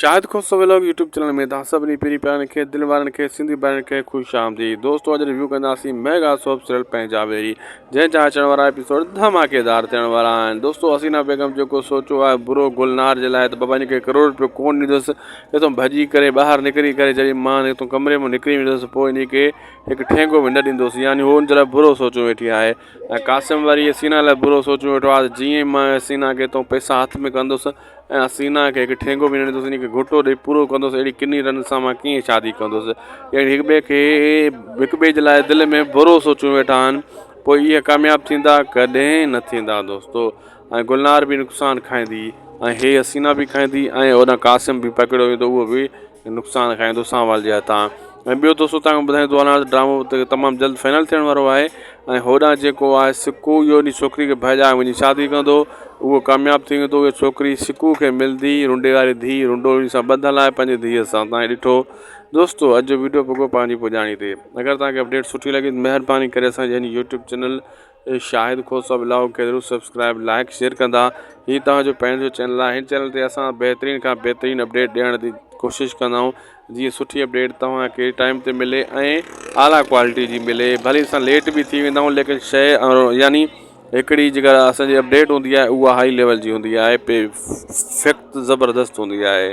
شاهد Khoso vlog YouTube channel ۾ توهان سڀني پيري پيارن کي دل وارن کي سنڌي ڀائرن کي خوش آمديد دوستو اڄ ريويو ڪنداسين ميگا سوپ سيريل پنهنجا ويري جنهن جا اچڻ وارا ايپيسوڊ ڌماڪيدار ٿيڻ وارا آهن دوستو حسينا بيگم جيڪو سوچو آهي برو گلنار جي لاء ته بابا ان کي ڪروڙ روپيو ڪون ڏيندس هتو ڀڄي ڪري ٻاهر نڪري ڪري جڏهن مان هتو ڪمري ۾ نڪري ويندس پوء ان کي هڪ ٺينگو به نه ڏيندس يعني هو ان جي لاء برو سوچو ويٺي آهي قاسم وري حسينا لاء برو سوچو ويٺو آهي جيئن مان حسينا کي هتو پئسا هٿ ۾ ڪندس ۽ حسينا کي هڪ ٺينگو به نه ڏيندس انهيء کي گهوٽو ڏيئي پورو ڪندس اهڙي ڪني رن سان مان ڪيئن شادي ڪندس يعني هڪ ٻئي کي هڪ ٻئي جي لاء دل ۾ برو سوچيون ويٺا آهن پوء اهي ڪامياب ٿيندا ڪڏهن نه ٿيندا دوستو ۽ گلنار به نقصان کائيندي ۽ هي حسينا به کائيندي ۽ هوڏانهن قاسم به پڪڙيو ويندو اهو به نقصان کائيندو اسان وال جي هٿان ۽ ٻيو دوستو تنهن کان ٻڌائين ٿو هلان ته ڊرامو تمام جلد فائنل ٿيڻ وارو آهي ۽ هوڏانهن جيڪو آهي سڪو اهو ان ڇوڪري کي ڀائجائي وڃي شادي ڪندو اهو ڪامياب ٿي ويندو اهو ڇوڪري سڪو کي ملندي رنڊي واري ڌي رنڊو ان سان ٻڌل آهي پنهنجي ڌيء سان تائين ڏٺو دوستو اڄ جو ويڊيو پڳو پنهنجي پڄاڻي تي اگر توهان کي اپڊيٽ سٺي لڳي ته مهرباني ڪري اسان جي هن يوٽيوب چينل شاهد کهو صاحب الاهو کي ضرور سبسڪرائب لائڪ شيئر ڪندا هي توهان جو پنهنجو جو چينل آهي هن چينل تي اسان بهترين کان بهترين اپڊيٽ ڏيڻ جي ڪوشش ڪندا آهيون جيئن سٺي اپڊيٽ توهان کي ٽائيم تي ملي ۽ اعليٰ ڪوالٽي جي ملي ڀلي اسان ليٽ به ٿي ويندا آهيون ليڪن شيء يعني هڪڙي جيڪا اسانجي اپڊيٽ هوندي آهي اها هائي ليول جي هوندي آهي پي فيڪٽ زبردست هوندي آهي